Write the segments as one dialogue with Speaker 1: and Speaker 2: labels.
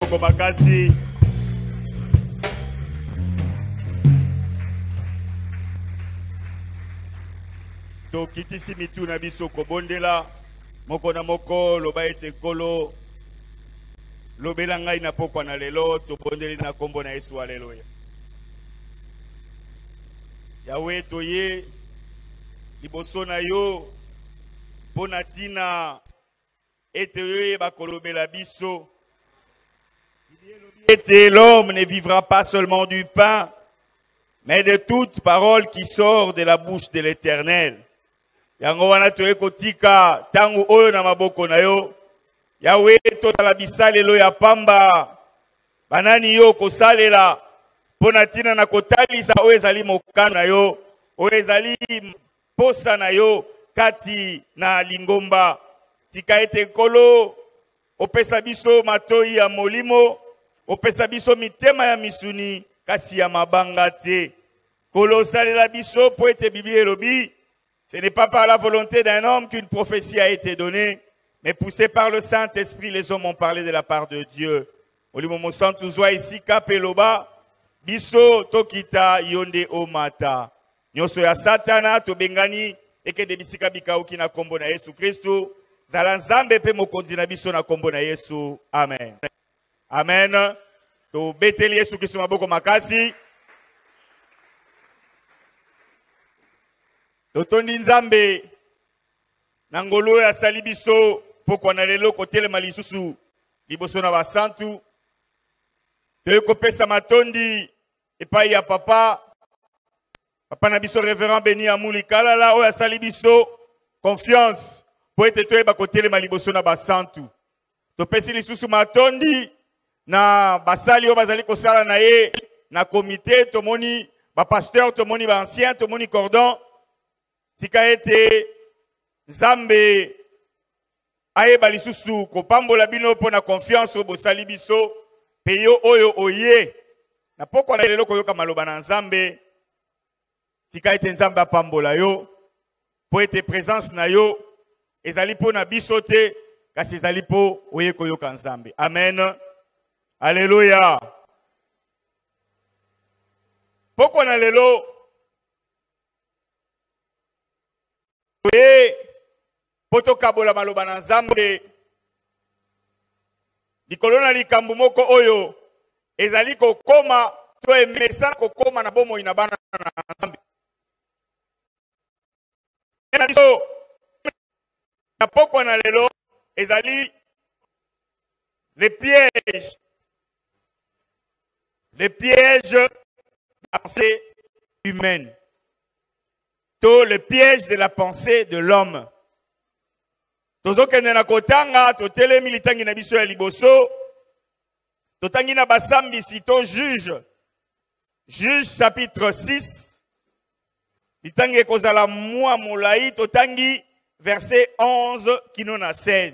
Speaker 1: Moko makasi. tokitisi mitu na biso kobondela moko na moko loba ete nkolo lobela ngai na pokwa na lelo tobondeli na nkombo na yesu aleluya yawe toye liboso na yo mpo na ntina ete oyoyeba kolobela biso ete l'homme ne vivra pas seulement du pain mais de toute parole qui sort de la bouche de l'éternel yango wana toye kotika ntango oyo na maboko na yo yawe tosala bisalelo ya pamba banani yo okosalela mpo na ntina na kotalisa oyo ezali mokano na yo oyo ezali mposa na yo kati na lingomba. Tika ete Nkolo opesa biso matoi ya molimo, opesa biso mitema ya misuni, kasi ya mabanga te. Nkolo osalela biso mpo ete Biblia elobi, ce n'est pas par la volonté d'un homme qu'une prophétie a été donnée, mais poussé par le Saint-Esprit, les hommes ont parlé de la part de Dieu. Molimo Mosantu zwa esika mpe loba, biso tokita yo nde omata. Nyoso ya Satana tobengani ekende bisika bikauki na kombo na Yesu Kristu. Zala Nzambe pe mokonzi na biso na kombo na Yesu. Amen. Amen. Tobeteli Yesu Kristu maboko makasi. Totondi Nzambe na ngolu oyo asali biso pokwa na lelo kotelema lisusu liboso na basantu toyei kopesa matondi epai ya papa papa na biso reverend beni amuli kalala oyo asali biso confiance mpo ete toyeba kotelema liboso na basantu topesi lisusu matondi na basali oyo bazali kosala na ye na komite tomoni bapasteur tomoni baancien tomoni cordon tika ete nzambe ayeba lisusu kopambola bino mpo na konfiance oyo bosali biso mpe yo oyo oye na pokwa na lelo koyoka maloba na nzambe tika ete nzambe apambola yo mpo ete presence na yo ezali mpo na biso te kasi ezali mpo oye koyoka nzambe amen aleluya pokwa na lelo toye mpo tokabola maloba na nzambe likolo na likambo moko oyo ezali kokoma to emesana kokoma na bomoi na bana na nzambe na biso na pokwa na lelo ezali le piège le piège de la pensée humaine to le piège de la pensée de l'homme tozokende na kotanga totelemi litangi na biso ya liboso totangi na basambisi to juge juge chapitre 6 litangi ekozala mwa molai totangi verset 11 kino na 16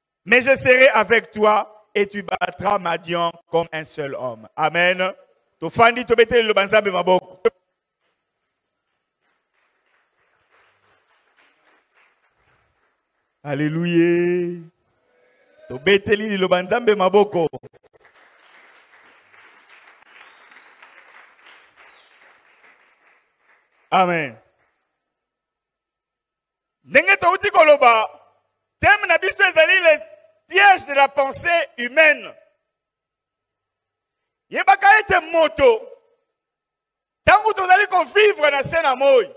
Speaker 1: Mais je serai avec toi et tu battras Madian comme un seul homme. Amen. Tofandi tobeteli le banzambe maboko. Alléluia. Tobeteli le banzambe maboko. Amen. ndenge touti koloba teme na biso ezali le piège de la pensée humaine yebaka ete moto ntango tozali kovivre na se na moi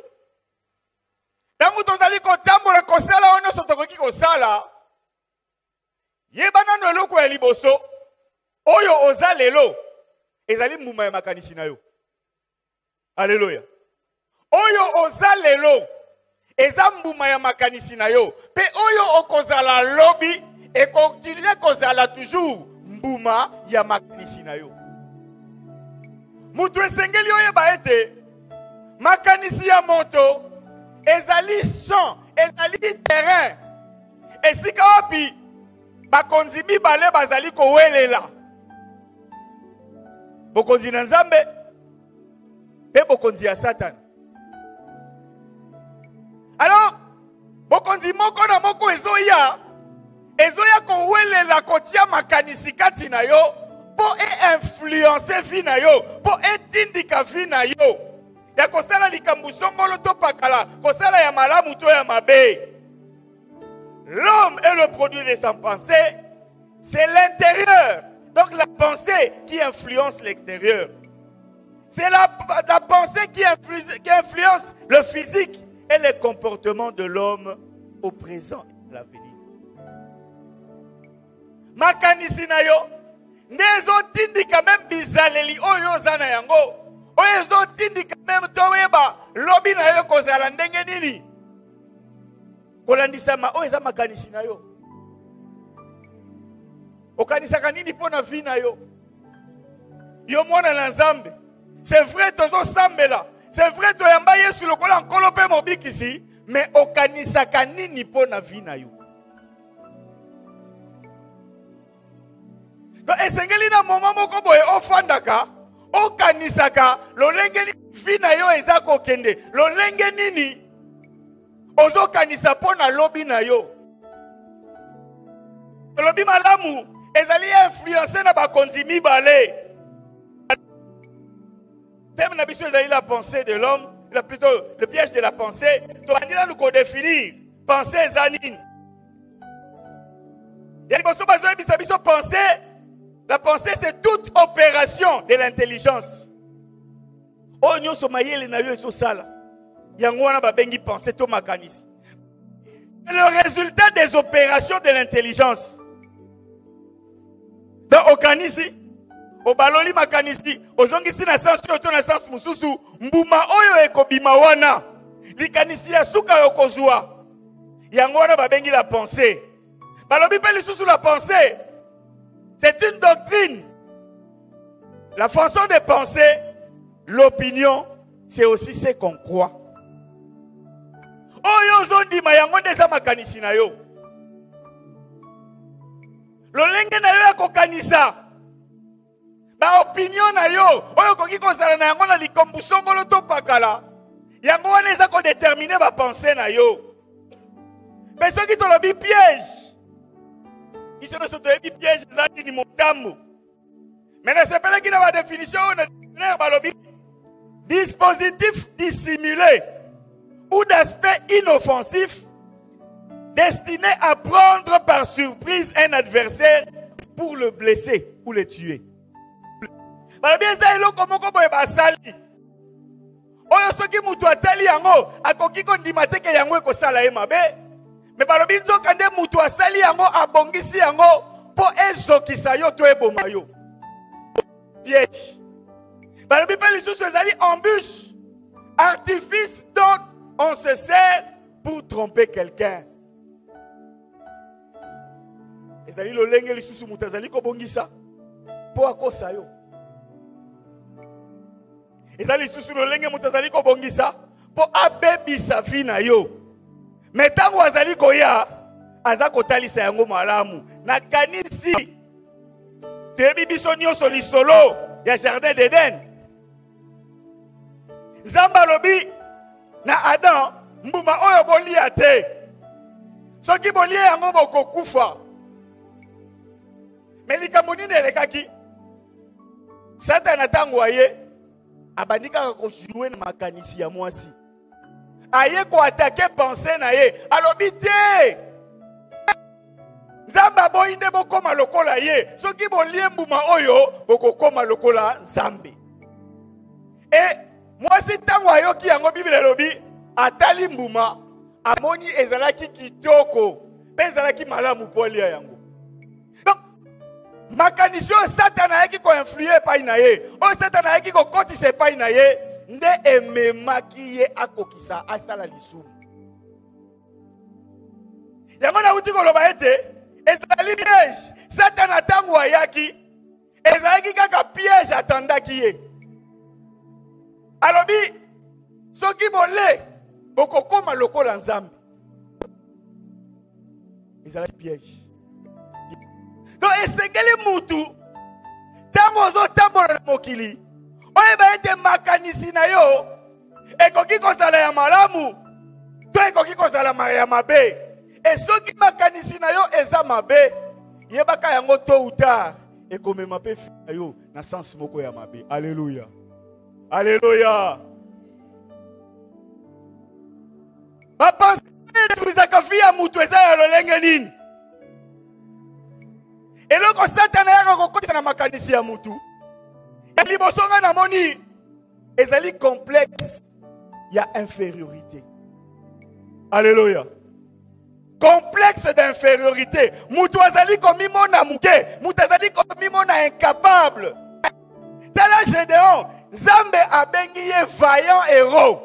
Speaker 1: ntango tozali kotambola kosala oyo nyonso tokoki kosala yeba nano eloko ya liboso oyo oza lelo ezali mbuma ya makanisi na yo aleluya oyo oza lelo eza mbuma ya makanisi na yo mpe oyo okozala lobi ekontinue kozala toujours mbuma ya makanisi na yo moto esengeli oyeba ete makanisi ya moto ezali champ ezali terrain esika wapi bakonzi mibale bazali kowelela bokonzi na nzambe mpe bokonzi ya satana alors bokonzi moko na moko ezoya ezoya kowelela kotia makanisi kati na yo mpo einfluence vi na yo mpo etindika vi na yo ya kosala likambo songolo to pakala kosala ya malamu to ya mabe L'homme est le produit de sa pensée, c'est l'intérieur. Donc la pensée qui influence l'extérieur. C'est la, la, pensée qui influence, qui influence le physique et les comportements de l'homme au présent et à l'avenir. makanisi na yo nde ezotindika meme bizaleli oyo oza na yango oyo ezotindika meme toyeba lobi na yo ekozala ndenge nini kolandisama oyo eza makanisi na yo okanisaka nini mpo na vi na yo yo mwana na nzambe c'est vrai tozosambela c'est vrai toyamba yesu lokola nkolo mpe mobikisi me okanisaka nini mpo na vi na yo esengeli na moma moko boye ofandaka okanisaka lolenge nini vi na yo eza kokende lolenge nini ozokanisa mpo na lobi na yo olobi malamu ezali influence na bakonzi mibale teme na biso ezali la pensée de l'homme plutôt le piège de la pensée tobandi nanu kodefinir pensée eza nini ya liboso bazoyebisa biso pensée la pensée c'est toute opération de l'intelligence oyo nyonso mayele na yo ezosala yango wana babengi pensée to makanisi le résultat des opérations de l'intelligence donc okanisi obaloli makanisi ozongisi na sense oyo to na sense mosusu mbuma oyo ekobima wana likanisi ya suka okozwa yango wana babengi la pensée balobi mpe lisusu la pensée c'est une doctrine la façon de penser l'opinion c'est aussi ce qu'on croit oyo ozondima yango nde eza makanisi na yo lolenge na yo ya kokanisa baopinio na yo oyo okoki kozala na yango na likambo songolo to pakala yango wana eza kodetermine bapense na yo mpe soki tolobi piège biso nyonso toyebi piège eza nini motambo me nasepelaki na badefinition oyo na dictionnaire balobi dispositif dissimulé ou d'aspect inoffensif destiné à prendre par surprise un adversaire pour le blesser ou le tuer. balobi eza eloko moko boye basali oyo soki moto atali yango akoki kondima te ke yango ekosala ye mabe me balobi nzoka nde moto asali yango abongisi yango mpo ezokisa yo to eboma yo piège balobi mpe lisusu ezali embûche artifice dont on se sert pour tromper quelqu'un ezali lolenge lisusu moto azali kobongisa mpo akosa yo eza lisusu lolenge moto azali kobongisa mpo abebisa vi na yo me ntango azali koya aza kotalisa yango malamu nakanisi toyebi biso nyonso lisolo ya jardin d'eden nzambe alobi na adam mbuma oyo bolia te soki bolie yango bokokufa me likambo nini elekaki satana ntango aye abandi kaka kojue na makanisi ya mwasi aye koatake pense na ye alobi te nzambe aboyi nde bokóma lokola ye soki bolie mbuma oyo bokokóma lokola nzambe e mwasi ntango ayoki yango biblia elobi atali mbuma amoni ezalaki kitoko mpe ezalaki malamu mpo alia yango donc makanisi oyo satana ayaki koinflue epai na ye oyo satana ayaki kokotisa epai na ye nde ememaki ye akokisa asala lisumu yango nauti koloba ete ezali piège satana ntango ayaki ezalaki kaka piège atandaki ye alobi soki bole bokokoma lokola nzambe ezalaki piège donc esengeli mutu ntango ozotambola na mokili oyeba ete makanisi na yo ekoki kozala ya malamu to ekoki kozala ya mabe e soki makanisi na yo eza mabe yebaka yango to ou tard ekomema mpe fi na yo na sense moko ya mabe aleluya aleluya bapense edetruisaka fi ya moto eza ya lolenge nini eloko satana yaka kokotisa na makanisi ya motu ya liboso ngai namoni ezali complexe ya infériorité Alléluia. complexe d'infériorité moto azali komimona moke moto azali komimona incapable tala gédéon nzambe abengi ye vaillant héros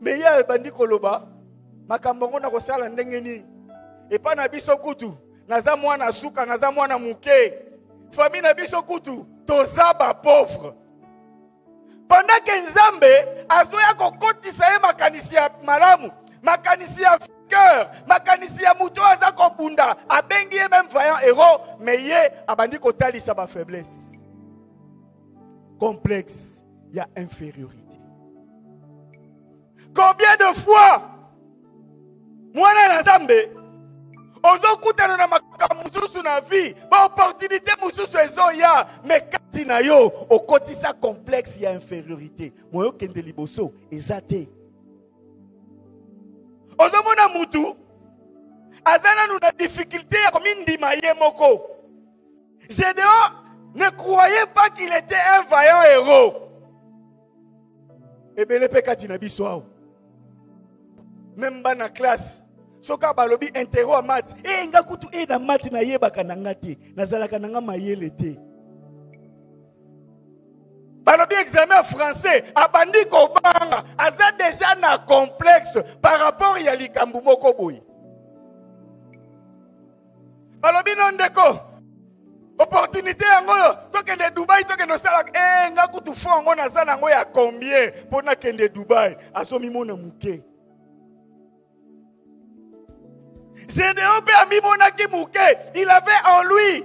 Speaker 1: me ye abandi koloba makambo yango nakosala ndenge nini epai na biso kutu naza mwana suka naza mwana moke famille na biso kutu toza bapauvre pendant ke nzambe azoya kokotisa ye makanisi ya malamu makanisi ya cœur makanisi ya moto oyo aza kobunda abengi ye meme vaillant héros me ye abandi kotalisa bafaiblesse complexe il y a infériorité. Combien de fois mwana na Nzambe ozokutana na makambo mosusu na vie baopportunité mosusu ezoya me kati na yo okotisa complexe ya infériorité moyo okende liboso eza te ozomona mutu aza nanu na difficulté ya komindima ye moko Gédéon ne croyait pas qu'il était un vaillant héros. ebele mpe kati na biso awa meme bana classe soki abalobi intero ya mati e eh, nga kutu e na mati nayebaka na nga te nazalaka na nga mayele te balobi examen ya français abandi kobanga aza deja na complexe par rapport ya likambo moko boye balobi no ndeko opportunité yango oyo tokende dubai tokende osala e eh, nga kutu fo yango naza na yango ya combien mpo nakende dubai azomimona moke Gédéon mpe amimonaki moke il avait en lui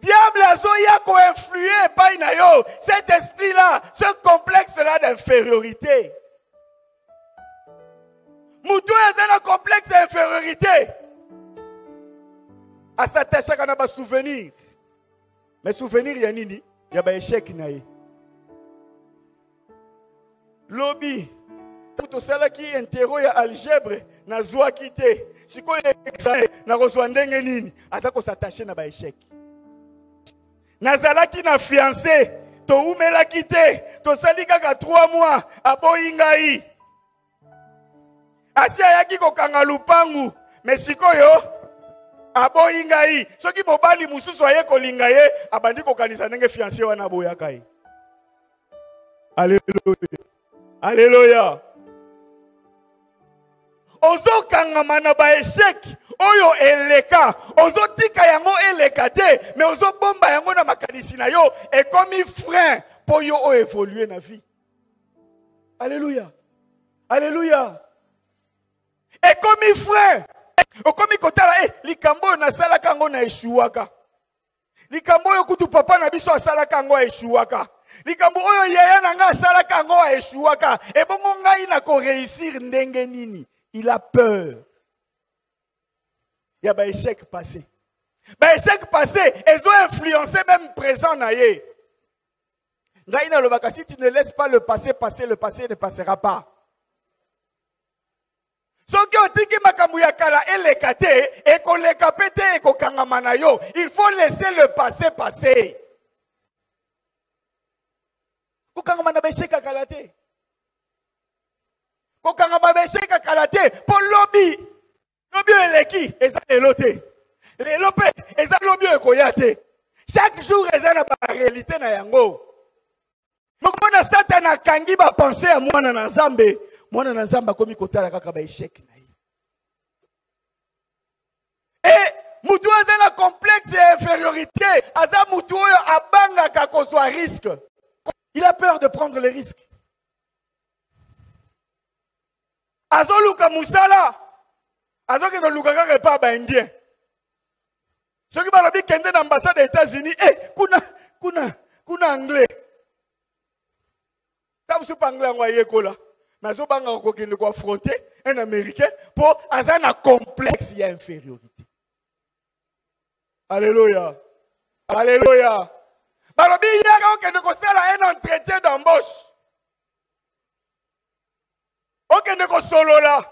Speaker 1: diable azoya koinflue epai na yo cet esprit là ce complexe là d'infériorité moto oyo aza na complexe ya infériorité asatachaka na basouvenir me souvenir ya nini ya baechec na ye lobi tosalaki intero ya algebre nazwaki te sikoyo examen nakozwa ndenge nini aza kosatache na baechec nazalaki na fiance towumelaki te tosali kaka 3 mois aboyi ngai asi ayaki kokanga lupangu me sikoyo aboyi ngai soki mobali mosusu aye kolinga ye abandi kokanisa ndenge fianse wana aboyaka ye aleluya aleluya ozokangama na baesheke oyo eleka ozotika yango eleka te me ozobomba yango na makanisi na yo ekomi frein mpo yo oyo evolue na vie aleluya aleluya ekomi frais okomi kotala e eh, likambo oyo nasalaka yango na eshuwaka likambo oyo kutu papa na biso asalaka yango aeshuwaka likambo oyo yaya na ngai asalaka yango aeshuwaka ebongo ngai na koreusir ndenge nini il a peur ya baechec passé baechec passé ezo influence meme présent na ye ngai nalobaka si tu ne laisse pas le passé passer le passé ne passera pas soki otiki makambo ya kala eleka te ekoleka mpe te ekokangama na yo il faut laisser le passé passer kokangama na besheka kala te kokangama besheka kala te mpo lobi lobi oyo eleki eza lelo te lelo mpe eza lobi oyo ekoya te chaque jour eza na barealité na yango mokomona satana akangi bapense ya mwana na nzambe mwana na nzambe akomi kotala kaka baesheke na ye e motu oyo aza na complexe ya infériorité aza motu oyo abangaka kozwa risque il a peur de prendre le risque azoluka mosala azokende koluka kaka epai ya baindien soki balobi kende na ambassade ya états-unis e eh, kuna kuna kuna anglais ta mosusu mpe anglais yango ayekola me azobangaka kokende koafronte un américain mpo aza na complexe ya infériorité alleluya alleluya balobi yaka okende kosala un entretien d'embauche okende kosolola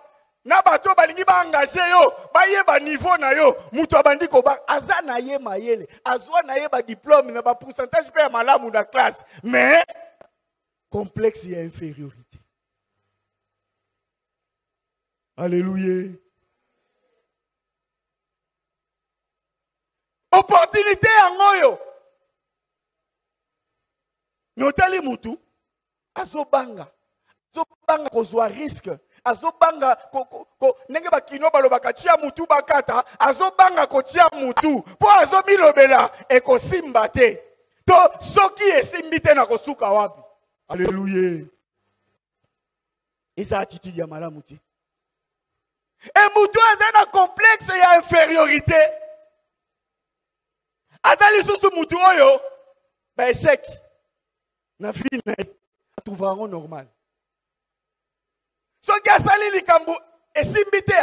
Speaker 1: na bato oyo balingi baengage yo bayeba niveau na yo moto abandi koba aza na ye mayele azwa na ye badiplome na bapourcentage mpe ya malamu na classe mais complexe ya infériorité alleluya opportunité yango oyo me otali motu azobanga azobanga kozwa riske azobanga ndenge bakino balobaka tia mutu bakata azobanga kotia mutu mpo azomilobela ekosimba te to soki esimbi te na kosuka wapi aleluya eza attitude ya malamu te e mutu aza na complexe ya infériorité aza lisusu mutu oyo baesheke na vie na ye atrouva yango normal soki asali likambo esimbi te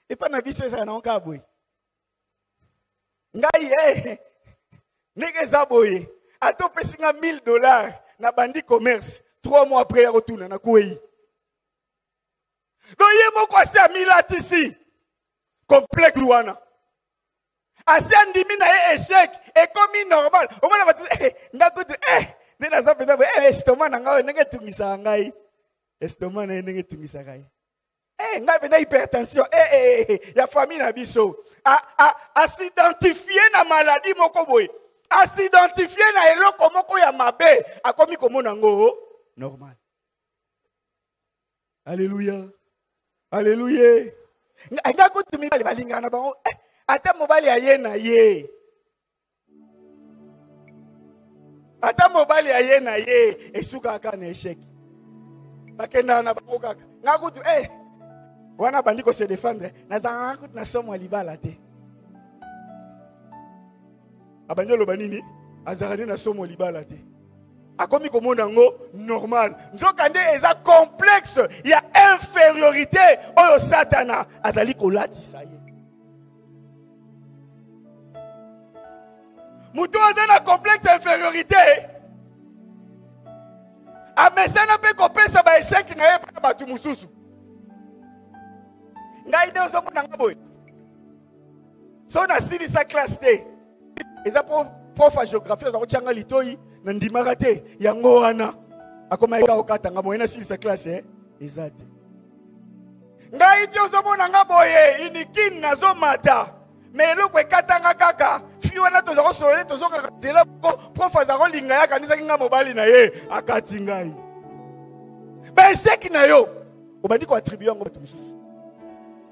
Speaker 1: epai na biso ezala nango kaka boye ngai e eh, ndenge eza boye ata opesi nga 1000 dollars na bandi commerce trois mois après ya kotuna nakwei donc ye moko asi amilatisi complexe wana asi andimi na ye echec ekomi normal omona bato eh, nga kutu eh, nde naza mpenza boye eh, estoma na ngai oyo ndenge etungisaka ngai estoma na ye ndenge etungisaka ye Hey, eh, ngai mpenza hypertension hey, eh, eh, hey, ya famille na biso asidentifie na maladi moko boye asidentifie na eloko moko ya mabe akomi komona yango oh, normal aleluya aleluya nga kutu mibali balingaka na bango eh, ata mobali aye na ye ata mobali aye na ye esukaka na echec bakendaka na bango kaka nga kutu eh, wana bandi ko se défendre nazalaka kutu na somo ya libala te abandi aloba nini azalaka nde na somo libala te akomi komona yango normal nzokande eza complexe ya infériorité oyo satana azali kolatisa ye moto aza na complexe infériorité amesana mpe kopesa baesheke na ye mpo na bato mosusu ngai nde ozomona nga boye so nasilisa classe te eza po prof ya géographie aza kotyanga litoi na ndimaka te yango wana akomaki kaka okatanga moye nasilisa classe eh? eza te ngai ti ozomona nga boye inikini nazomata me eloko ekatanga kaka fi wana toza kosolole tozongaka nzela po prof aza kolinga ye akanisaki ngai mobali na ye akati ngai
Speaker 2: baesheki na yo obandi koatribue yango bato mosusu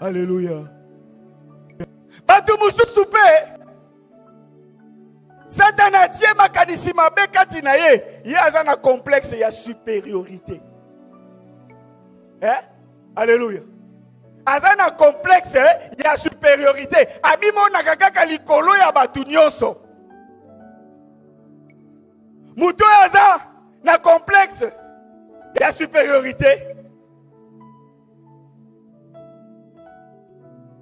Speaker 2: Alléluia. bato mosusu mpe satana atie makanisi mabe kati na ye ye aza na complexe ya supériorité eh? alleluya aza na complexe eh, ya supériorité amimonaka kaka likolo ya bato nyonso moto oyo aza na complexe ya supériorité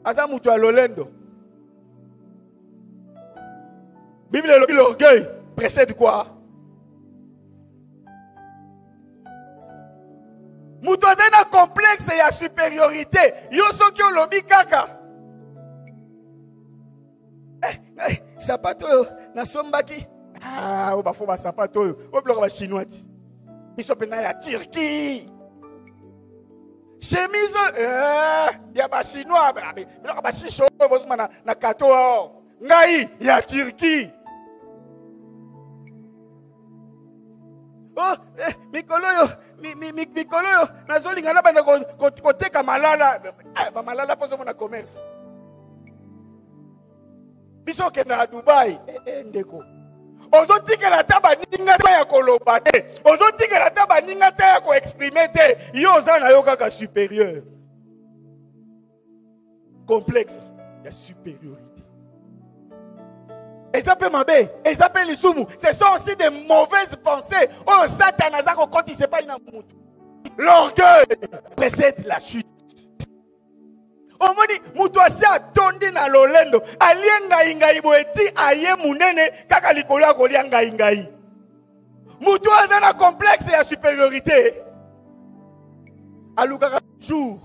Speaker 2: aza moto ya lolendo biblia elobi l'orgueil précède quoi moto azali na complexe ya supériorité yo soki olobi kaka eh, eh, sapato oyo nasombaki ah, oyo bafo basapato oyo oyo biloko bachinois ti biso mpenza ya turquie chemise eh, ya bachinois biloko bashisho oyo bozuma na, na kato ngai ya turquie oh, eh, mikolo oyo mi, mi, mi, mikolo oyo nazolinga nabanda koteka malala eh, bamalala mpo ozomona commerce biso okendaka dubai eh, eh, ndeko ozotikela ata baninga te ya koloba te ozotikela ata baninga te ya koexprime te yo oza na yo kaka superieur complexe ya supériorité eza mpe mabe eza mpe lisumu ce sont aussi des mauvaises pensées oyo oh, satan aza kokotisa epai na motu l'orgueil précède la chute omoni moto asi atondi na lolendo alie ngaingai boye ti aye monene kaka likolo ya kolia ngaingai moto oyo aza na complexe ya supériorité alukaka jour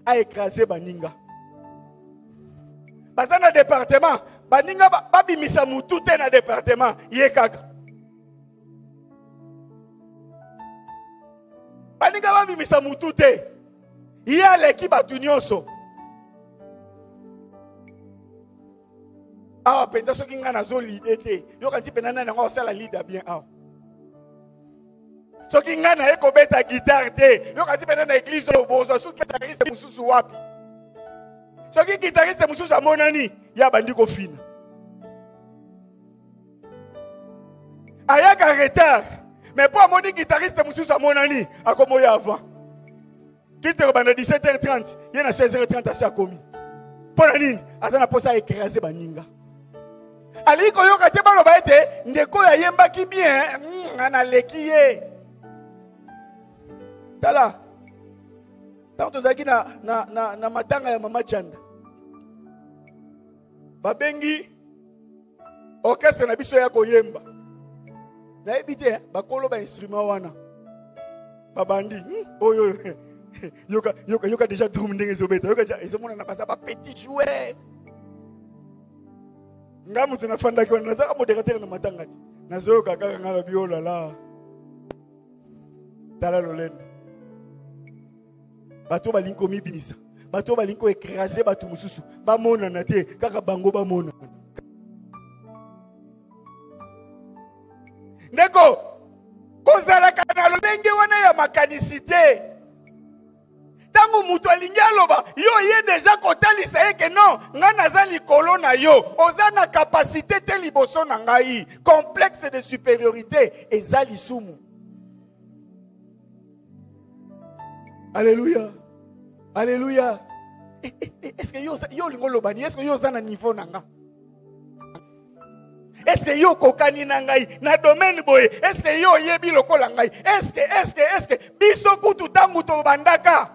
Speaker 2: a écrasé baninga baza na département baninga babimisa mutu te na département ye kaka baninga babimisa mutu te ye aleki bato nyonso awa mpenza soki ngai nazo lide te yoka nti mpena nani yango akosala lida bien awa soki ngai naye kobeta gitare te yoka nti mpena na eglize oyo bozwa soki gitariste mosusu wapi soki gitariste mosusu amonani ye abandi kofina ayaka retard mais mpo amoni gitariste mosusu amonani akomoya avant kite kobanda 17h30 ye na 16h30 asi akomi mpo na nini aza na mposa aekrase baninga alingi koyoka te baloba ete ndeko oyo ayembaki bien mm, naleki ye tala ntango tozalaki na, na, na, na matanga ya mama chanda babengi orchestre na biso ya koyemba nayebi te bakolo bainstrument wana babandi hmm, oyo oh, yoka, yoka, yoka deja drum ndenge ezobeta yoka deja ezomonana baza bapetit joueur nga moto nafandaki wana nazaka moderatere na matanga te nazoyoka kaka nga na biolala oh tala lolendo bato balingi komibimisa bato balingi koekrase bato mosusu bamonana te kaka bango bamonana ndeko kozalaka na lolenge wana ya makanisi te ntango moto alingi aloba yo oye deja kotalisa ye ke non ngai naza likolo na yo oza na kapasite te liboso na ngai complexe de supériorité eza lisumu Alléluia. Alléluia. Eh, eh, eh, est-ce que yo yo lingo lobani? Est-ce que yo zana niveau nanga? Est-ce que yo kokani na ngai na domaine boye? Est-ce que yo yebi lokola ngai? Est-ce que est-ce que est-ce que biso kutu tangu to bandaka?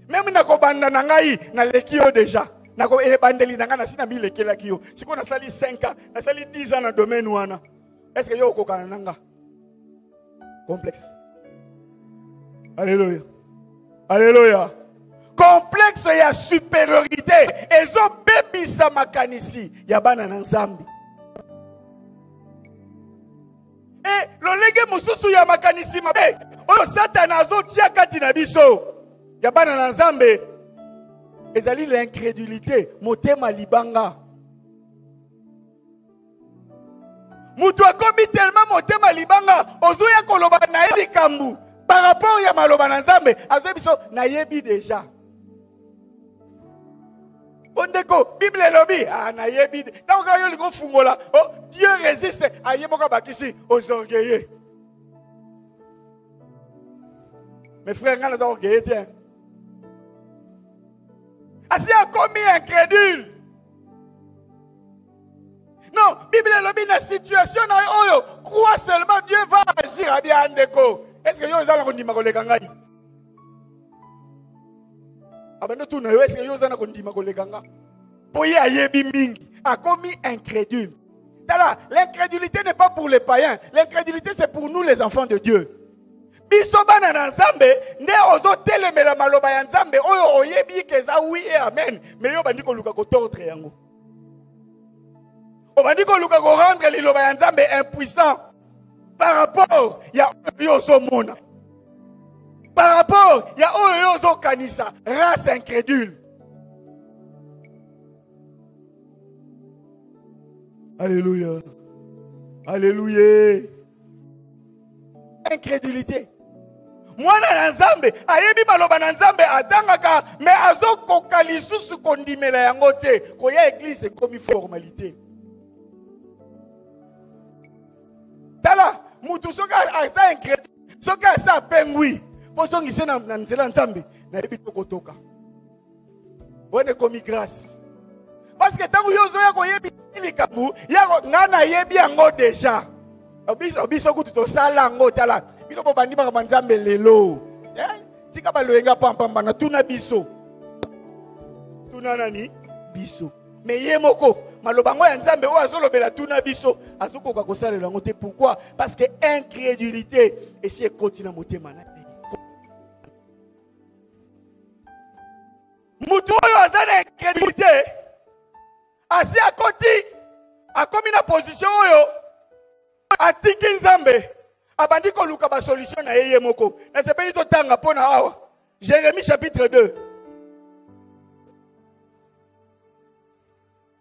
Speaker 2: Meme na kobanda na ngai na leki yo déjà. Na ko ebandeli na ngai na sina milekelaki yo. Siko nasali 5 ans, nasali 10 ans na domaine wana. Est-ce que yo kokana na ngai? Complexe. Alléluia. Alléluia. Complexe ya supériorité ezobebisa makanisi ya bana na Nzambe. E lolenge mosusu ya makanisi mabe oyo Satana azotia kati na biso ya bana na Nzambe ezali l'incrédulité, motema libanga. moto akomi telema motema libanga ozoya koloba na ye likambo par rapport ya maloba na nzambe azoyi biso nayebi deja o ndeko bible elobi ah, nayebi ntango kaka yo olingi ofungola o oh, dieu resiste aye ah, moko abakisi ozorgeye mes frères ngai naza orgeye te asi akomi incrédule Non, Bible elobi na situation na oyo, crois seulement Dieu va agir à bien ndeko. Est-ce que yo oza na kondima koleka ngai? Abanda tu na yo est-ce que yo oza na kondima koleka ngai? Po ye ayebi mingi, akomi incrédule. Tala, l'incrédulité n'est pas pour les païens, l'incrédulité c'est pour nous les enfants de Dieu. biso bana na nzambe nde ozotelemela maloba ya nzambe oyo oyebi ke eza wi e amen me yo bandi koluka kotordre yango obandi koluka korendre liloba ya nzambe impuissant par rapport ya oyo yo ozomona par rapport ya oyo yo ozokanisa race incrédule Alléluia. Alléluia. incrédulité mwana na nzambe ayebi maloba na nzambe atangaka me azokoka lisusu kondimela yango te koya eglize ekomi formalite tala motu soki aza incrédule soki aza apengwi bozongise na nzela nzambe nayebi tokotoka wana ekomi grâce parce que ntango yo ozoya koyebi likambo yako ngai nayebi yango deja biso biso kutu tosala yango tala bino bobandi makambo ya nzambe lelo eh, tika baloyenga pampamba na tuna biso tuna nani biso me ye moko maloba yango ya nzambe oyo azolobela tuna biso azokoka kosalela yango te pourquoi parce que incrédulité esi ekoti na motema na ye moto oyo aza na incrédulité asi akoti akomi na position oyo atiki nzambe abandi koluka basolution na ye ye moko nasepeli totanga mpo na awa jérémie chapitre 2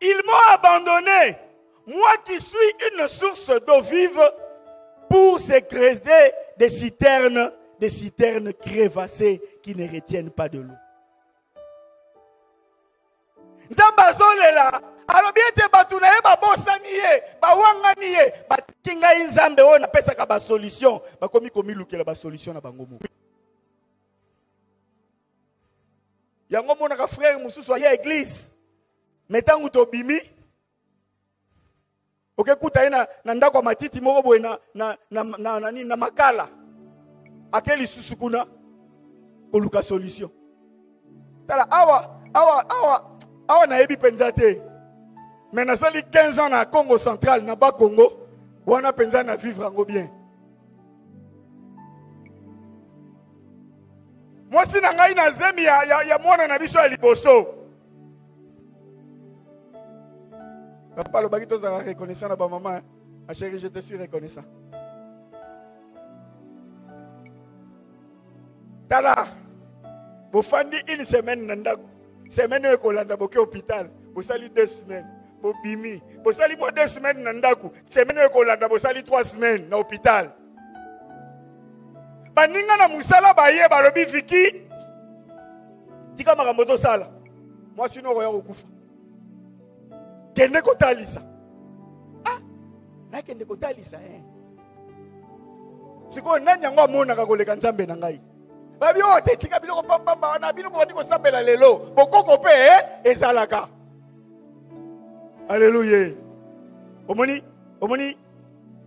Speaker 2: Ils m'ont abandonné, moi qui suis une source d'eau vive, pour se creuser des citernes, des citernes crevassées qui ne retiennent pas de l'eau. nzambe azolela alobi ete bato na ye babosani ye bawangani ye batiki ngai nzambe oyo napesaka basolution bakomi komilukela basolution na bango moko yango omonaka frere mosusu aya eglize me ntango tobimi okekuta ye na, na ndako ya matiti moko boye na, na, na, na, na, na, na makala ake lisusu kuna koluka solution tala awa awa awa awa nayebi mpenza te me nasali 15 ans na congo central na ba congo wana mpenza na vivre yango bien mwasi na ngai na zemi ya, ya, ya mwana na biso ya liboso papa alobaki tozalaka reconnaissant na bamama eh. ma chérie je te suis reconnaissant tala bofandi une semaine na ndako semaine oyo ekolanda boke hôpital bosali deux semaines bobimi bosali mwa deux semaines na ndako semaine oyo ekolanda bosali trois semaines na hôpital baninga na mosala baye balobi viki tika makambo tosala mwasi no okoya kokufa kende kotalisa ah nakende kotalisa eh. sikoyo nani yango amonaka koleka nzambe na ngai babi oyo oh, te tika biloko pampamba wana bino bobandi kosambela lelo bokoko mpe eh, ezalaka aleluya omoni omoni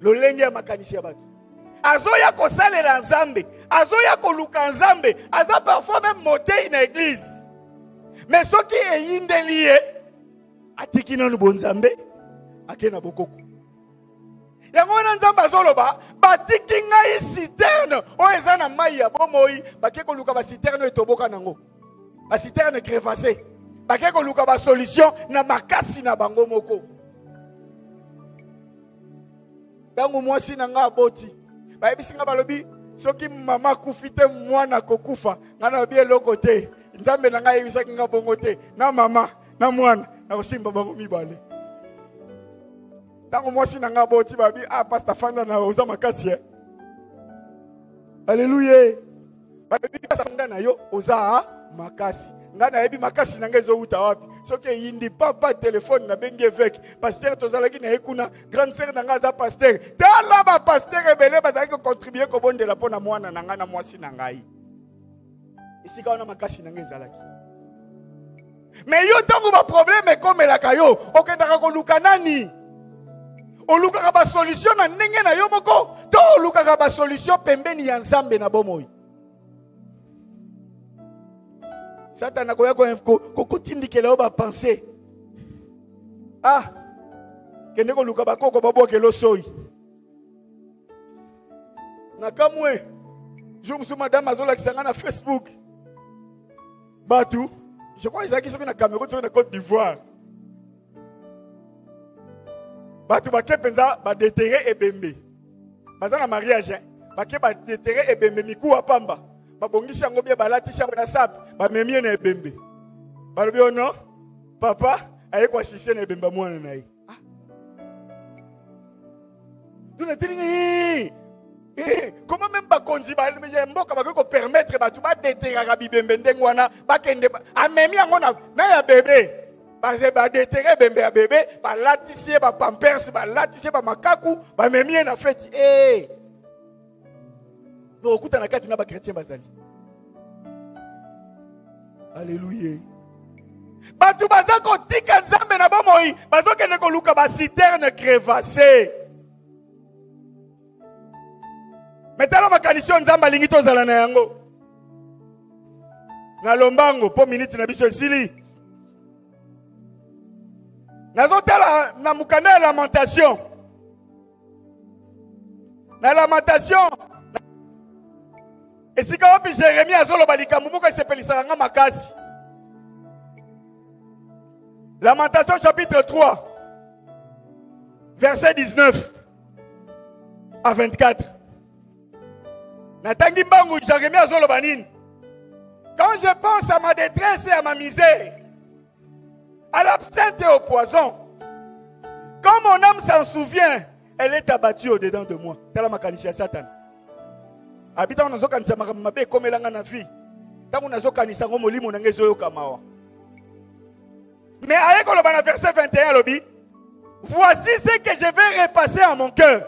Speaker 2: lolenge ya makanisi ya bato azoya kosalela nzambe azoya koluka nzambe aza parfois meme motei na eglize me soki eyindeli ye atiki nanu bonzambe ake na bokoko yango wana nzambe azoloba batiki ngai citerne oyo eza na mai ya bomoi bake koluka baciterne oyo etoboka nango ba citerne crevasse bake koluka ba solution na makasi na bango moko ntango mwasi na ngai aboti bayebisi ngai balobi soki mama akufi te mwana akokufa ngai nalobi eloko te nzambe na ngai ayebisaki ngai bongo te na mama na mwana nakosimba bango mibale ntango mwasi na ngai aboti babi ah pasta fanda na oza makasi e eh. aleluya bayebi basanga na yo oza makasi ngai nayebi makasi na ngai ezowuta wapi soki eyindi papa telefone nabengi eveke pastere tozalaki na ye kuna grande sere na ngai aza pastere tala bapastere ebele bazalaki kocontribue kobondela mpo na mwana na ngai na mwasi na ngai esika wana makasi na ngai ezalaki me yo ntango baprobleme ekomelaka yo okendaka koluka nani olukaka basolutio na ndenge na yo moko to olukaka basolutio pembeni ya nzambe na bomoi satana akoya kotindikela yo bapense ah kende koluka bakoko babwakela osoi nakamwe jour mosusu madame azolakisa ngai na facebook bato je crois ezalaki soki na cameroun soki na côte d'ivoire bato bake mpenza badetere ebembe baza na mariage hein. bake badetere ebembe mikuwa pamba babongisi yango bie balatisi yango na sape bamemi ye na ebembe balobi ono oh papa aye koasiste na ebembe ya mwana na ye ah. yo nateli nga eh, eh, koma meme bakonzi ya mboka bakoki kopermettre bato badeteraka bibembe ndenge wana bakende amemi yango na ya bebe badetere ebembe ya bebe balatisi ye bapampers balatisi ye bamakaku bamemi ye na feti ee eh. tokokuta na kati na bakretien bazali aleluya bato baza kotika nzambe na bomoi bazokende koluka basiterne crevasse metala makanisi oyo nzambe alingi tozala na yango na lombango mpo miniti na biso esili nazotala na mokanda ya lamentation na lamentation esika wapi jeremi azoloba likambo moko esepelisaka nga makasi lamentation chapitre 3 verset 19 à 24 natangi mbangu jeremi azoloba nini quand je pense à ma détresse et à ma misère À l'absinthe et au poison. Quand mon âme s'en souvient, elle est abattue au-dedans de moi. Tala makanisi ya Satan. Abita on azokanisa makambo mabe ekomela nga na vie. Ntango nazokanisa yango molimo na ngai ezoyoka mawa. Mais aye koloba na verset 21 alobi, voici ce que je vais repasser à mon cœur.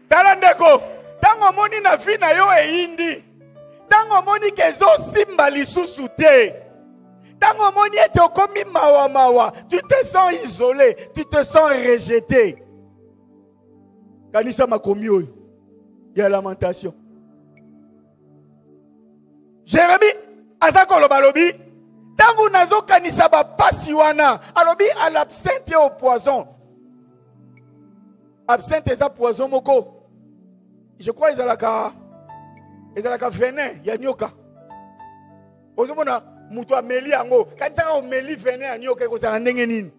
Speaker 2: tala ndeko ntango omoni na vi na yo eyindi ntango omoni ke ezosimba lisusu te ntango omoni ete okomi mawa mawa tu te sens isolé tu te sens rejeté kanisa makomi oyo ya lamentation jérémie aza koloba alobi ntango nazokanisa bapasi wana alobi à l'absinthe et au poison absinthe eza poison moko je crois ezalaka ezalaka venin ya nyoka ozomona moto ameli yango kanisaka omeli venin ya nyoka ekozala ndenge nini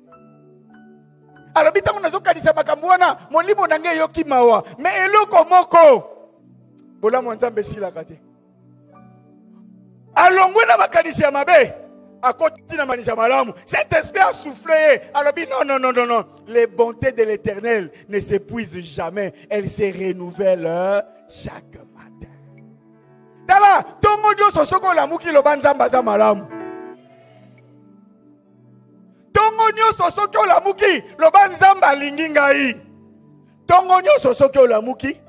Speaker 2: alobi ntango nazokanisa makambo wana molimo na ngai eyoki mawa me eloko moko bolamu ya nzambe esilaka te alongwe na makanisi ya mabe akoti na makanisi ya malamu cet esprit asouffle ye alobi non non non non non les bontés de l'éternel ne s'épuisent jamais elles se renouvellent euh, chaque matin tala ntongo nyonso soki olamuki loba nzambe aza malamu ntongo nyonso soki olamuki loba nzambe alingi ngai ntongo nyonso soki olamuki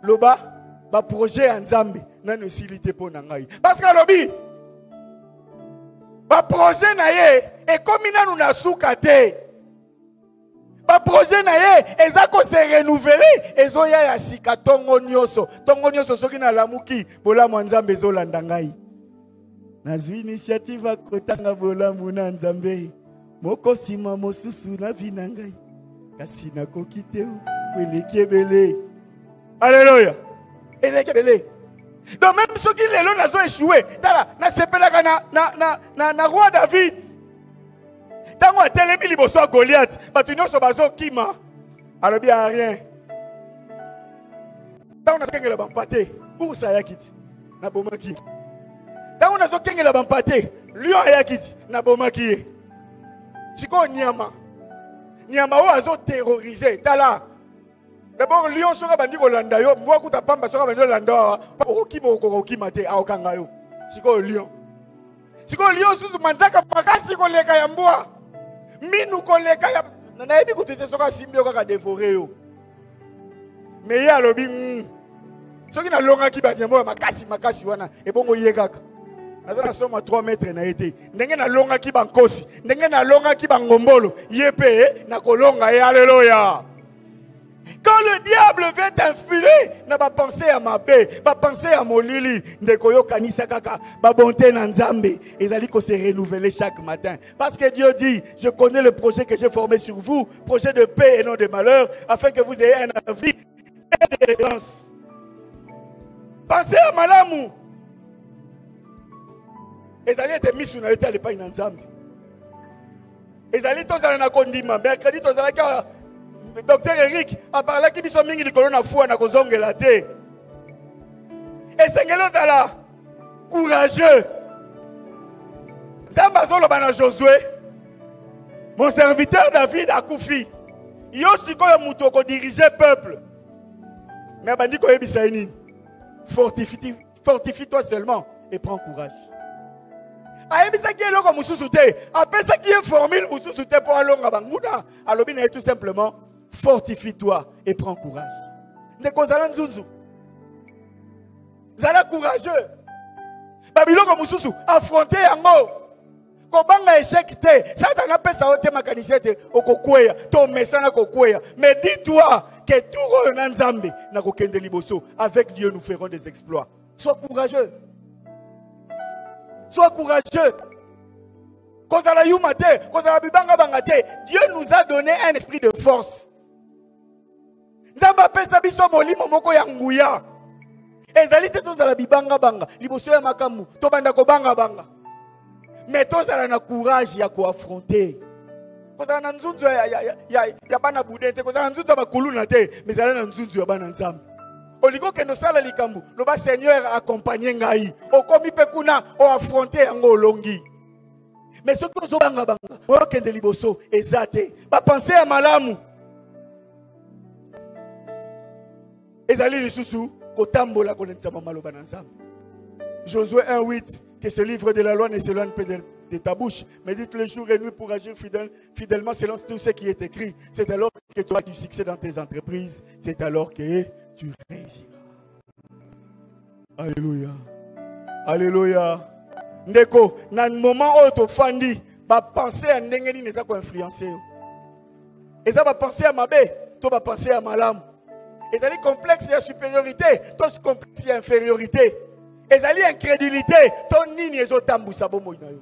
Speaker 2: loba baprojet ya nzambe nano esili te mpo na ngai parce que alobi baprojet na ye ekomi nanu na suka te baprojet na ye eza kose renouvele ezoya ya sika ntongo nyonso ntongo nyonso soki nalamuki bolamu ya nzambe ezolanda ngai nazwi initiative akotanga bolamu na nzambe moko nsima mosusu na vi na ngai kasi nakoki te po eleki ebele aleluya eleki ebele donc meme soki lelo nazo echoue tala nasepelaka na, na, na, na, na roi david ntango atelemi liboso ya goliath bato nyonso bazokima alobi a rien ntango nazokengela bampate ursa ayaki ti nabomaki ntango nazokengela bampate lion ayaki ti nabomaki ye sikoyo nyama nyama oyo azoterrorize tala dabord lion soki abandi kolanda yo mbwa kuta pamba soki abandi kolanda awa okokima okokokima te aokanga yo sikoyo lion sikoyo liyo susu manzaka makasi koleka ya mbwa minu koleka ya nayebi kutu te soki asimbi yo kaka devore yo me ye alobi mm. soki nalongaki banyambo ya makasi makasi wana ebongo ye kaka naza na soma 3 metre na ye te ndenge nalongaki bankosi ndenge nalongaki bangombolo ye mpe nakolonga ye aleloya Quand le diable veut t'influer na ba pensée ya mabe, ba pensée ya molili, ndeko yo kanisa kaka ba bonté na Nzambe ezali ko se renouveler chaque matin. Parce que Dieu dit, je connais le projet que j'ai formé sur vous, projet de paix et non de malheur, afin que vous ayez un avenir et de l'espérance. Pensez à malamu. ezali ete misu na yo te alepai na nzambe ezali tozala na kondima mercredi tozalaki awa docteur eric aparlaki biso mingi likolo na fua na kozongela te esengeli ozala courageux nzambe azoloba na josue mon serviteur david akufi yo sikoyo moto okodirige peuple me abandi koyebisa ye nini fortifiti fortifie toi seulement et prends courage ayebisaki ye eloko mosusu te apesaki ye formule mosusu te mpo alonga banguna alobi na ye tout simplement fortifie toi et prends courage ndeko zala nzunzu zala courageux babiloko mosusu affronte yango kobanga echec te satana apesa yo te makanisi ete okokweya to omesana kokweya mais dis toi ke tour oyo na nzambe nakokende liboso avec dieu nous ferons des exploits sois courageux sois courageux kozala yuma te kozala bibangabanga te dieu nous a donné un esprit de force nzambe apesa biso molimo moko ya nguya ezali te tozala bibangabanga liboso ya makambo tobanda kobangabanga me tozala na courage ya koafronte kozala na nzunzu ya, ya, ya, ya, ya bana bude te kozala na nzunzu ya bakuluna te me ezala na nzunzu ya bana nzambe olingi okende osala likambo loba seigneur akompagne ngai okomi mpe kuna oafronte yango olongi me soki ozobangabanga oyokende liboso eza te bapense ya malamu ezali lisusu kotambola kolentisama maloba na nzambe josué 1 8 que ce livre de la loi ne s'éloigne pas de, de ta bouche, mais dites le jour et nuit pour agir fidèle, fidèlement selon tout ce qui est écrit. C'est alors que tu auras du succès dans tes entreprises, c'est alors que tu réussiras. Alléluia. Alléluia. Ndeko, na moment oyo tofandi, ba pensée ya ndenge nini eza ko influencer yo? Eza ba pensée ya mabe to ba pensée ya malamu. Ezali complexe ya supériorité to complexe ya infériorité. Ezali incrédulité to nini ezotambusa bomoi na yo?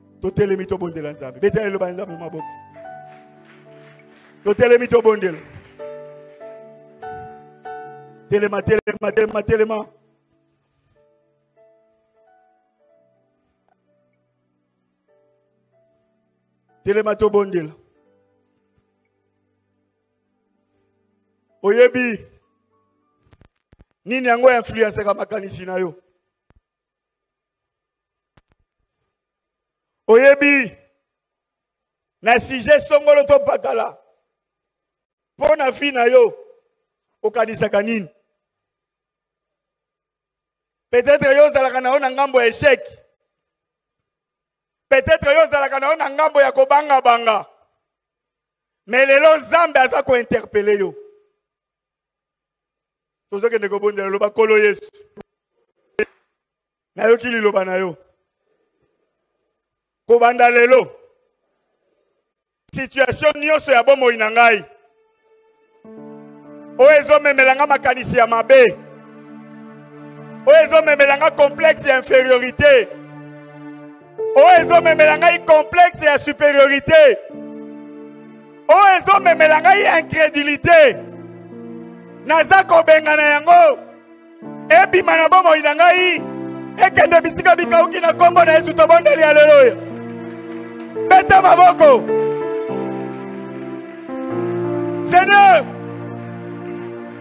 Speaker 2: totelemi tobondela nzambe betela eloba ya nzambe maboko totelemi tobondela telema telema telema telema telema tobondela oyebi nini yango ya influensaka makanisi na yo oyebi na sujet songolo to bakala mpo na vi na yo okanisaka nini peut-être yo ozalaka na yo na ngambo ya echec peut-être yo ozalaka na yo na ngambo ya kobangabanga me lelo nzambe aza kointerpele yo tozokende kobondela loba nkolo yesu nayoki liloba na yo kobanda lelo situatio nyonso ya bomoi na ngai oyo ezomemela ngai makanisi ya mabe oyo ezomemela ngai complexe ya inferiorité oyo ezomemela ngai complexe ya superiorité oyo ezomemela ngai incrédulité naza kobengana yango ebima na bomoi na ngai ekende bisika bikauki na nkombo na yesu tobondeli aleluya beta maboko seigneur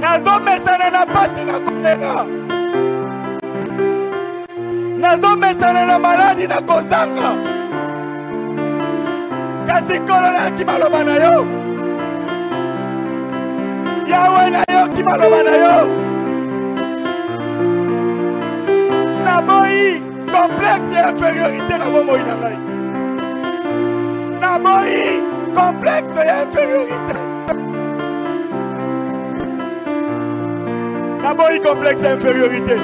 Speaker 2: nazomesana na pasi na kolela nazomesana na maladi na kozanga kasi nkolo nayaki maloba na yo yawe nayoki maloba na yo naboyi complexe ya inferiorité na bomoi na ngai naboyi complexe ya inferiorité naboyi complexe ya inferiorité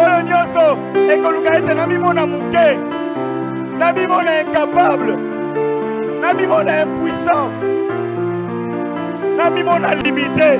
Speaker 2: oyo nyonso ekoluka ete namimona moke namimona incapable namimona impuissant namimona limite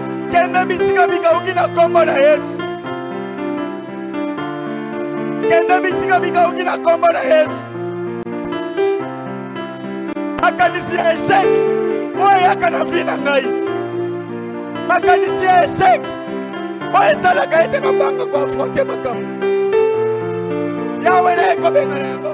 Speaker 2: Kende bisika bikauki na kombo na Yesu. Kende bisika bikauki na kombo na Yesu. Makanisi ya echec oyo eyaka na vie na ngai. Makanisi ya echec oyo esalaka ete nabanga koafronte makambo. Yawe naye kobengana yango.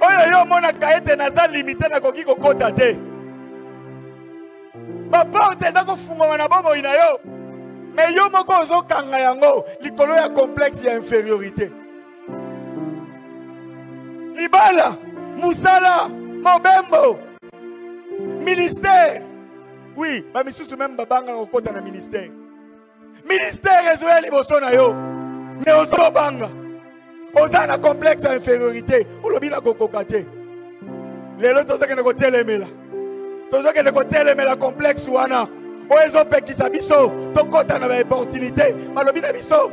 Speaker 2: oyo yo omonaka ete naza limite nakoki kokota te baporte eza kofungwama na bomoi na yo me yo moko ozokanga yango likolo ya complexe ya inferiorité libala mosala mobembo ministère oui bamisusu meme babangaka kokota na ministère ministère ezoya liboso na yo mais ozobanga oza na complexe ya infériorité olobi na kokoka te lelo tozokende kotelemela tozokende kotelemela complexe wana oyo ezopekisa biso tokɔta na baopportunité balobi na biso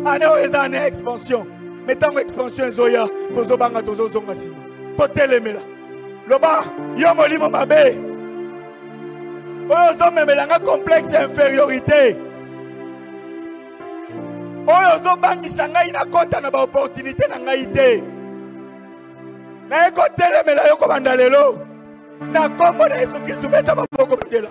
Speaker 2: ane oyo eza ane ya expansion me ntango expansion ezoya tozobanga tozozonga nsima totelemela loba yo molimo mabe oyo ozomemela nga complexe ya infériorité oyo ozobangisa ngai nakɔta na baopportunité na ngai te naye kotelemela yo kobanda lelo na nkombo na yesu kristu beta maboko bandela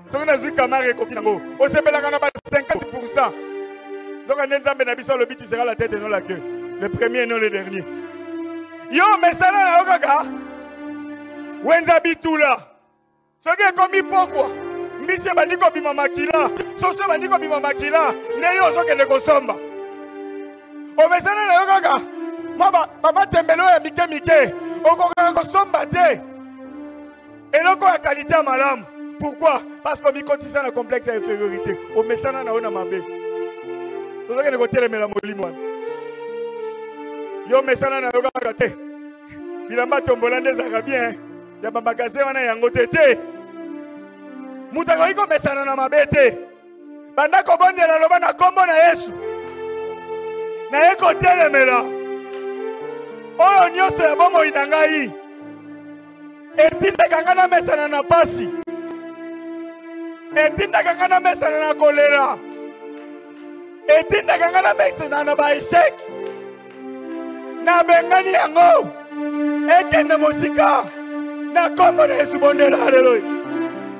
Speaker 2: soki nazwi kamare ekoki nango osepelaka na ba 50 pourcent nzoka nde nzambe na biso alobi tu sera la tete non la queue le premier non le dernier yo mesana na yo kaka wenza bitula soki ekomi pokwa mbisi ebandi kobima makila soso ebandi kobima makila nde yo ozokende kosomba omesana na yo kaka mwa bamatembelo ya mike mike okokaka kosomba te eloko ya kalite ya malamu pourquoi parce que omikotisa na complexe ya infériorité omesana na yo na mabe tozokende kotelemela molimo wana yo omesana na yo kaka te bilamba tombola nde ezalaka bien ya bamagasin wana yango te te moto akoki komesana na mabe te banda kobondela loba na nkombo na yesu naye kotelemela oyo nyonso ya bomoi na ngai etindaka ngai namesana na pasi etindaka ngai namesana na kolera etindaka ngai namesana na baeshek nabengani yango ekende mosika na kombo na yesu bondela haleluya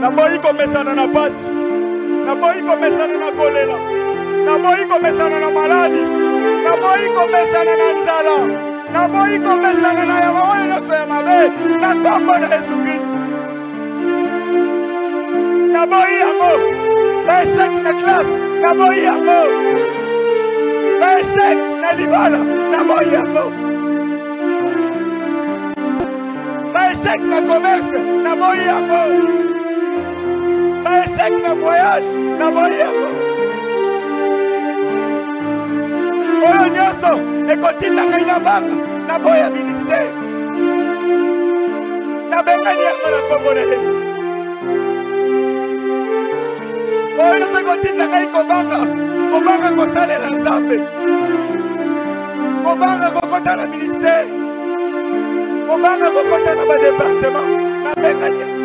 Speaker 2: naboyi komesana na pasi naboyi komesana na kolela naboyi komesana na maladi naboyi komesana na nzala naboyi komesana na yama oyo nyonso ya mabe na nkombo na yesu kristo naboyi yango baechec na classe naboyi yango baechec na libala naboyi yango baechec na commerce naboyi yango baechec na voyage naboyi yango oyo nyonso ekotinda ngai na banga naboya ministere nabengani yango na nkombo na yesu oyo ezali kotinda ngai kobanga kobanga kosalela nzambe kobanga kokota na ministere kobanga kokota na badepartema nabengani yango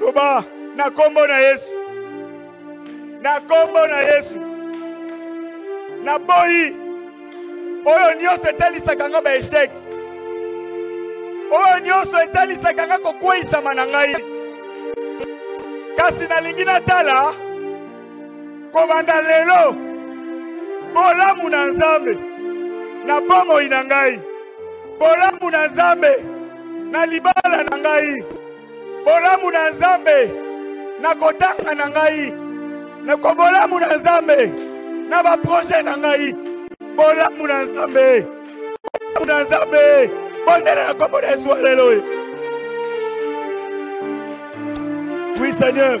Speaker 2: loba na nkombo na yesu na nkombo na yesu naboyi oyo nyonso etalisaka nga baeshek oyo nyonso etalisaka nga kokweisama na ngai kasi nalingi natala kobanda lelo bolamu na nzambe na bomoi na ngai bolamu na nzambe na libala na ngai bolamu na nzambe na kotanga na ngai na kobolamu na nzambe na baproje na ngai bolamu na nzambe bolamu na nzambe bondela na kombo na yesu aleloya oui seigneur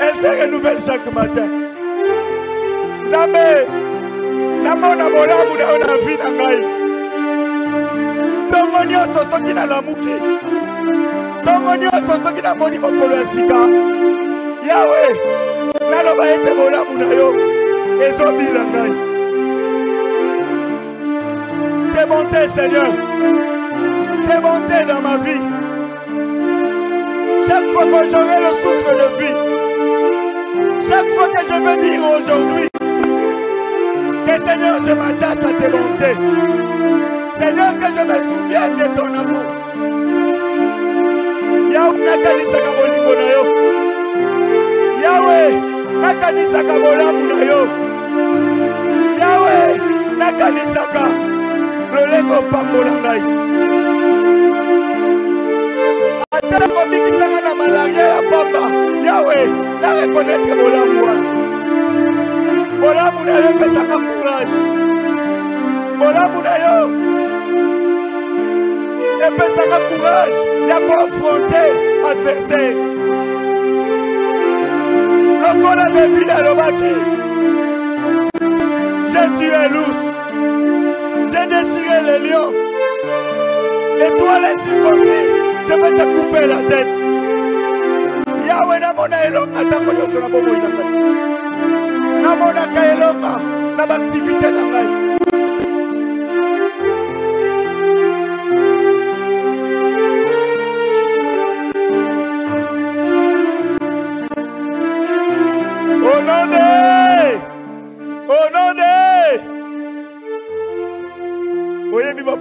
Speaker 2: Elle se renouvelle chaque matin. Nzambe, namona bolamu na yo na vie na ngai. Ntongo nyonso soki nalamuki, ntongo nyonso soki namoni mokolo ya sika, Yawe, naloba ete bolamu na yo ezobila ngai. Tes bontés, Seigneur, tes bontés dans ma vie. Chaque fois que j'aurai le souffle de vie, chaque fois que je vais dire aujourd'hui, que Seigneur, je m'attache à tes bontés. Seigneur, que je me souvienne de ton amour. Yahweh, nakanisaka bolingo na yo. Yahweh, nakanisaka bolamu na yo. yawe nakanisaka lolenge opambola ngai ata kobikisanga na malaria ya pamba yawe narekonete bolamu wana bolamu na yo epesaka courage bolamu na yo epesaka courage ya koafronte adversaire lokola david alobaki j'ai tué l'ours j'ai déchiré le lion et toi les circoncis je vais te couper la tête yawe namona elonga ntango nyonso na bomoi na ngai namonaka elonga na baaktivite na ngai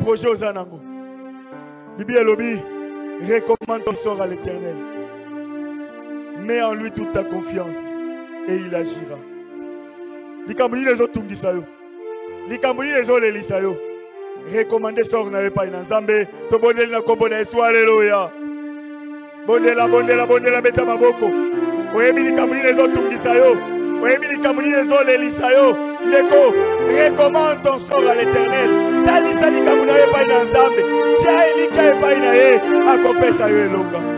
Speaker 2: projet oza nango biblia elobi recommande ton sort à l'éternel mets en lui toute ta confiance et il agira likambo nini ezotungisa yo likambo nini ezolelisa yo recommande sor na yo epai na nzambe tobondeli na nkombo na yesu aleluya bondela bondela bondela beta maboko oyebi likambo nini ezotungisa yo oyebi likambo nini ezolelisa yo ndeko recommande ton sort à l'éternel talisa likambo na yo epai na nzambe tya elikya epai na ye akopesa yo elonga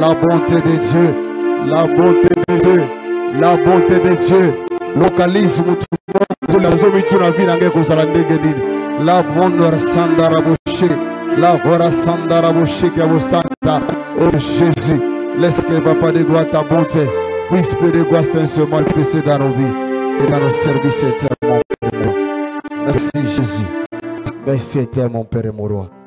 Speaker 3: La bonté de Dieu, la bonté de Dieu, la bonté de Dieu. Localise mutu moko na zomi tu na vie na ngai kozala ndenge nini. La bonheur sandara boshe, la hora sandara boshe kia bosanta. Oh Jésus, laisse que Papa de gloire ta bonté puisse de gloire se manifester dans nos vies et dans nos services éternels. Merci Jésus. Merci éternel mon Père et mon Roi.